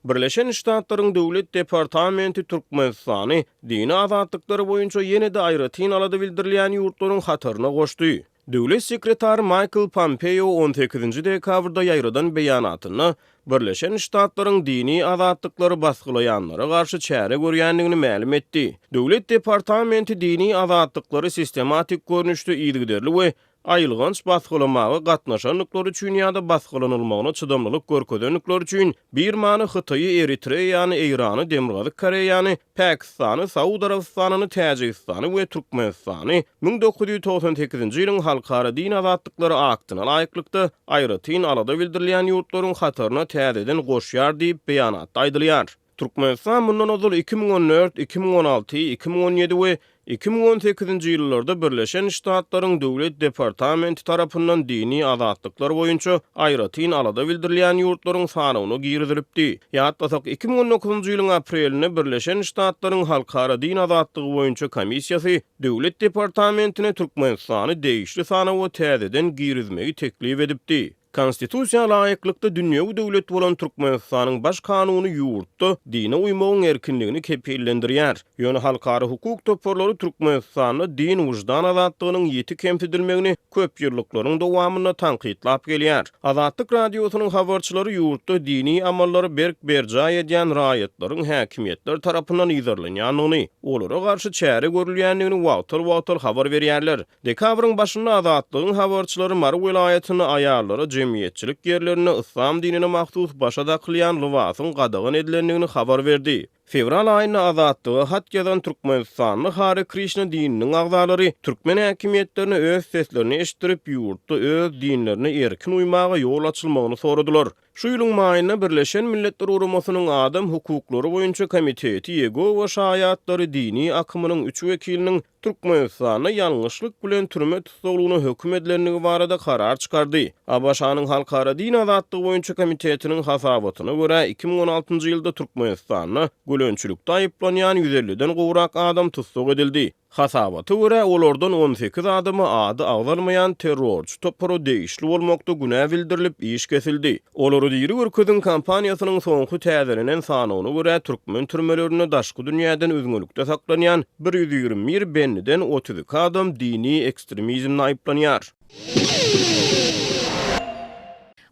Birleşen Ştatlaryň Döwlet departamenti Türkmenistany dini azatlyklary boýunça ýene-de aýratyn alada bildirilýän ýurtlaryň hataryna goşdy. Döwlet sekretary Maýkl Pompeo on sekizinji dekabrda ýaýradan beýanatynda Birleşen Ştatlaryň dini azatlyklary basgylaýanlara garşy çäre görýändigini mälim etdi. Döwlet departamenti dini azatlyklary sistematik görnüşde yzygiderli we aýylganç basgylamaga gatnaşandyklary üçin ýa-da basgylanylmagyna çydamlylyk görkezendikleri üçin Birmany, Hytaýy, Eritreýany, Eýrany, Demirgazyk Koreýany, Pakistany, Saud Arabystanyny, Täjigistany we Türkmenistany müň dokuz ýüz togsan sekizinji ýylyň Halkara din azatlyklary aktyna laýyklykda aýratyn alada bildirilýän ýurtlaryň hataryna täzeden goşýar diýip, beýanatda aýdylýar. Türkmenistan mundan ozal iki müň on dört, iki müň on alty, iki müň on ýedi we iki müň on sekizinji ýyllarda Birleşen Ştatlaryň Döwlet departamenti tarapyndan dini azatlyklar boýunça aýratyn alada bildirilýän ýurtlaryň sanawyna girizilipdi. Ýatlasak, iki müň on dokuzynjy ýylyň aprelinde Birleşen Ştatlaryň Halkara din azatlygy boýunça komissiýasy Döwlet departamentine Türkmenistany degişli sanawa täzeden girizmegi teklip edipdi. Konstitusiýa laýyklykda dünýewi döwlet bolan Türkmenistanyň Baş Kanuny ýurtda dine uýmagyň erkinligini kepillendirýär. Ýöne halkara hukuk toparlary Türkmenistanda din-wyždan azatlygynyň ýiti kemsidilmegini köpýyllyklaryň dowamynda tankytlap gelýär. Azatlyk Radiosynyň habarçylary ýurtda dini amallary berk berjaý edýän raýatlaryň häkimiýetler tarapyndan yzarlanýandygyny, olara garşy çäre görülýändigini wagtal-wagtal habar berýärler. Dekabryň başynda Azatlygyň habarçylary Mary welaýatynda aýallara jemgyýetçilik ýerlerinde yslam dinine mahsus başa dakylýan lybasyň gadagan edilendigini habar berdi. Fewral aýynda Azatlyga hat ýazan türkmenistanly Hare Krişna dininiň agzalary türkmen häkimiýetlerine öz seslerini eşitdirip, ýurtda öz dinlerine erkin uýmaga ýol açylmagyny soradylar. Şu ýylyň maýynda Birleşen Milletler Guramasynyň Adam hukuklary boýunça komiteti Ýegowa şaýatlary dini akymynyň üç wekiliniň, Türkmenistanda ýalňyşlyk bilen türme tussaglygyna höküm edilendigi barada karar çykardy. ABŞ-nyň Halkara din azatlygy boýunça komitetiniň hasabatyna görä, iki müň on altynjy ýylda Türkmenistanda gölençilikde aýyplanýan ýüz elliden gowrak adam tussag edildi. Hasabata görä, olardan on sekiz adama ady agzalmaýan terrorçy topara degişli bolmakda günä bildirilip, iş kesildi. Olary diri görkeziň kampaniýasynyň soňky täzelenen sanawyna görä, türkmen türmelerinde daşky dünýäden üzňelikde saklanýan bir ýüz ýigrimi bir bendiden otuz iki adam dini ekstremizmde aýyplanýar.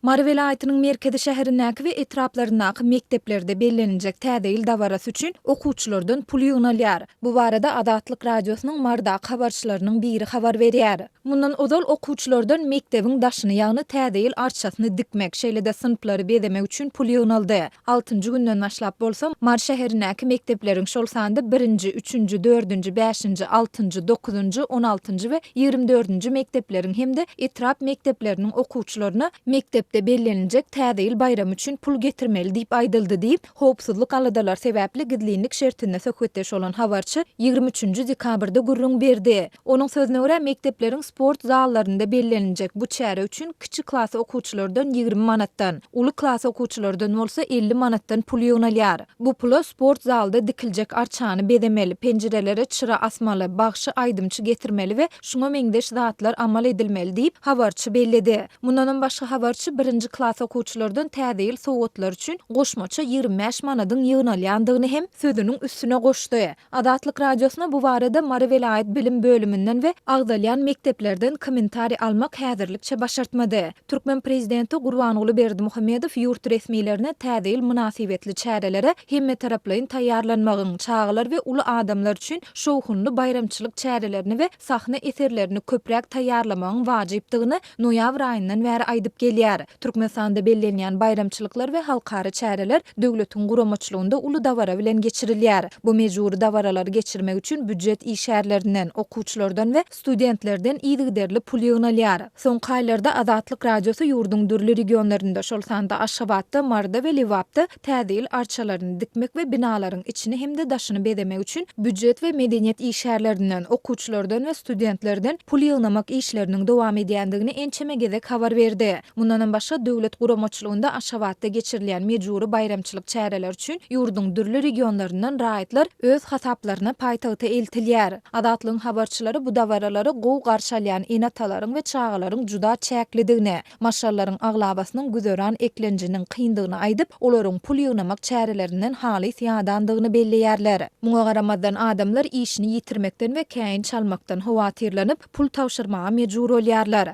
Mary welaýatynyň merkezi şäherindäki we etraplaryndaky mekdeplerde bellenijek Täze ýyl dabarasy üçin okuwçylardan pul ýygnalýar. Bu barada Azatlyk Radiosynyň Marydaky habarçylarynyň biri habar berýär. Mundan ozal okuwçylardan mekdebiň daşyny, ýagny Täze ýyl arçasyny dikmek, şeýle-de synplary bezemek üçin pul ýygnaldy. Altynjy günden başlap bolsa, Mary şäherindäki mekdepleriň, şol sanda birinji, üçünji, dördünji, bäşinji, altynjy, dokuzynjy, on altynjy we ýigrimi dördünji mekdepleriň hem-de etrap mekdepleriniň okuwçylaryna mekdepde belleniljek Täze ýyl baýramy üçin pul getirmeli diýip aýdyldy diýip, Howpsuzlyk aladalary sebäpli gizlinlik şertinde söhbetdeş bolan habarçy ýigrimi üçünji dekabrda gürrüň berdi. Onuň sözüne görä, mekdepleriň sport zallarynda bellenjek bu çäre üçin kiçi klas okuwçylardan ýigrimi manatdan, uly klas okuwçylardan bolsa elli manatdan pul ýygnalýar. Bu pula sport zalda dikiljek arçany bezemeli, penjirelere çyra asmaly, bagşy-aýdymçy getirmeli we şuňa meňzeş zatlar amal edilmeli diýip, habarçy belledi. Mundanam başga habarçy birinji klas okuwçylardan Täze ýyl sowgatlary üçin goşmaça ýigrimi bäş manadyň ýygnalýandygyny hem sözüniň üstüne goşdy. Azatlyk Radiosyna bu barada Mary welaýat bilim bölüminden we agzalýan mekdeplerden kommentariý almak häzirlikçe başartmady. Türkmen prezidenti Gurbanguly Berdimuhamedow ýurt resmilerine Täze ýyl mynasybetli çärelere hemmetaraplaýyn taýýarlanmagyň, çagalar we uly adamlar üçin şowhunly baýramçylyk çärelerini we sahna eserlerini köpräk taýýarlamagyň wajypdygyny noýabr aýyndan bäri aýdyp gelýär. Türkmenistanda bellenýän baýramçylyklar we halkara çäreler döwletiň guramaçylygynda uly dabara bilen geçirilýär. Bu mejbury dabaralary geçirmek üçin býujet işgärlerinden, okuwçylardan we studentlerden yzygiderli pul ýygnalýar. Soňky aýlarda Azatlyk Radiosy ýurduň dürli regionlarynda, şol sanda Aşgabatda, Maryda we Lebapda Täze ýyl arçalaryny dikmek we binalaryň içini hem-de daşyny bezemek üçin býujet we medeniýet işgärlerinden, okuwçylardan we studentlerden pul ýygnamak işleriniň dowam edýändigini ençeme gezek habar berdi. Mundanam başga, döwlet guramaçylygynda Aşgabatda geçirilýän mejbury baýramçylyk çäreleri üçin ýurduň dürli regionlaryndan raýatlar öz hasaplaryna paýtagta eltilýär. Azatlygyň habarçylary bu dabaralary gowy garşy alýan ene-atalaryň we çagalaryň juda çäklidigini, Marşallaryň aglabasynyň güzeran eklenjiniň kyndygyny aýdyp, olaryň pul ýygnamak çärelerinden halys ýadandygyny belleýärler. Muňa garamazdan, adamlar işini ýitirmekden we käýinç çalmakdan howatyrlanyp, pul tabşyrmaga mejbur bolýarlar.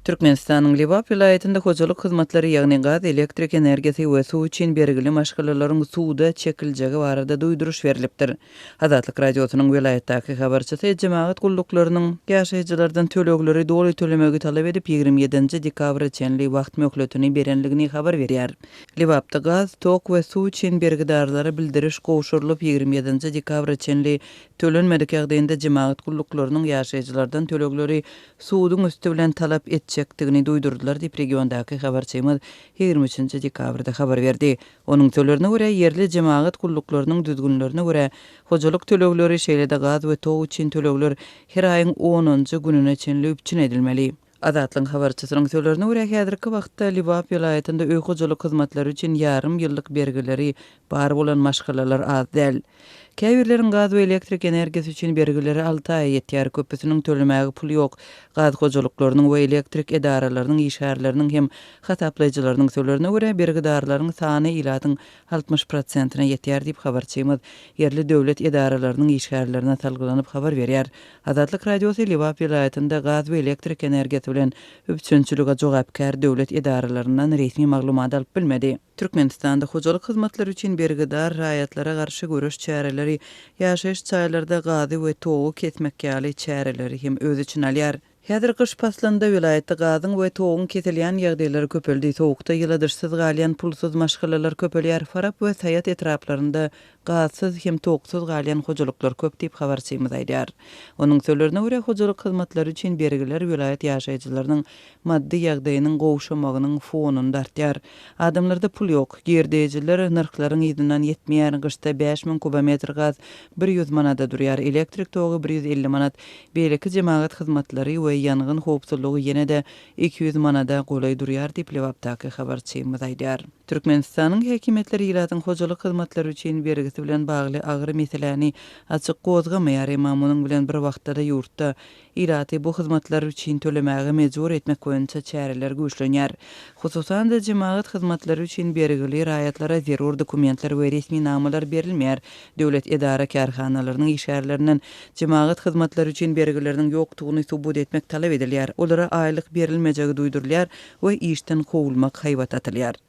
Türkmenistanyň Lebap welaýatynda hojalyk hyzmatlary, ýagny gaz, elektrik energiýasy we suw üçin bergili maşgalalaryň suwda çekiljegi barada duýduryş berlipdir. Azatlyk Radiosynyň welaýatdaky habarçysy jemagat gulluklarynyň ýaşaýjylardan tölegleri doly tölemegi talap edip ýigrimi ýedinji dekabra çenli wagt möhletini berendigini habar berýär. Lebapda gaz, tok we suw üçin bergidarlara bildiriş gowşurylyp ýigrimi ýedinji dekabra çenli tölenmedik ýagdaýynda jemagat gulluklarynyň ýaşaýjylardan tölegleri suduň üsti bilen talap etjekdigini duýdurdylar diýip regiondaky habarçymyz ýigrimi üçünji dekabrda habar berdi. Onuň sölerine görä, ýerli jemagat gulluklarynyň düzgünlerine görä, hojalyk tölegleri, şeýle-de gaz we tok üçin tölegler her aýyň onunjy gününe çenli üpjün edilmeli. Azatlygyň habarçysynyň sölerine görä, häzirki wagtda Lebap welaýatynda öý hojalyk hyzmatlary üçin ýarym ýyllyk bergileri bar bolan maşgalalar az däl. Käbirleriň gaz we elektrik energiýasy üçin bergileri alty aýa ýetýär, köpüsiniň tölemäge puly ýok. Gaz hojalyklarynyň we elektrik edaralarynyň işgärleriniň hem hasaplaýjylarynyň sölerine görä, bergidarlaryň sany ilatyň altmyş prosentine ýetýär diýip, habarçymyz ýerli döwlet edaralarynyň işgärlerine salgylanyp habar berýär. Azatlyk Radiosy Lebap welaýatynda gaz we elektrik energiýasy bilen üpjünçilige jogapkär döwlet edaralaryndan resmi maglumat alyp bilmedi. Türkmenistanda hojalyk hyzmatlary üçin bergidar raýatlara garşy göreş çäreleri ýaşaýyş jaýlarda gazy we togy kesmek ýaly çäreleri hem öz içine alýar. Häzir gyş paslynda welaýatda gazyň we toguň kesilýän ýagdaýlary köpeldi. Sowukda ýyladyşsyz galýan pulsuz maşgalalar köpelýär. Farap we Saýat etraplarynda gazsyz hem toksuz galýan hojalyklar köp diýip, habarçymyz aýdýar. Onuň sözlerine görä, hojalyk hyzmatlary üçin bergiler welaýat ýaşaýjylarynyň maddy ýagdaýynyň gowşamagynyň fonunda artýar. Adamlarda pul ýok. Girdeýjiler nyrhlaryň yzyndan ýetmeýär. Gyşda bäş müň kubometr gaz bir ýüz manada durýar, elektrik togy bir ýüz elli manat. Beýleki jemagat hyzmatlary we ýangyn howpsuzlygy ýene-de iki ýüz manada golaý durýar diýip, Lebapdaky habarçymyz aýdýar. Türkmenistanyň häkimiýetleri ilatyň hojalyk hyzmatlary üçin bergisi bilen bagly agyr meseläni açyk gozgamaýar, emma munuň bilen bir wagtda-da ýurtda ilaty bu hyzmatlar üçin tölemäge mejbur etmek boýunça çäreler güýçlenýär. Hususan-da, jemagat hyzmatlary üçin bergili raýatlara zerur dokumentler we resminamalar berilmeýär, Döwlet edara-kärhanalarynyň işgärlerinden jemagat hyzmatlary üçin bergileriniň ýokdugyny subut etmek talap edilýär, olara aýlyk berilmejegi duýdurylýar we işden kowulmak haýbat atylýar.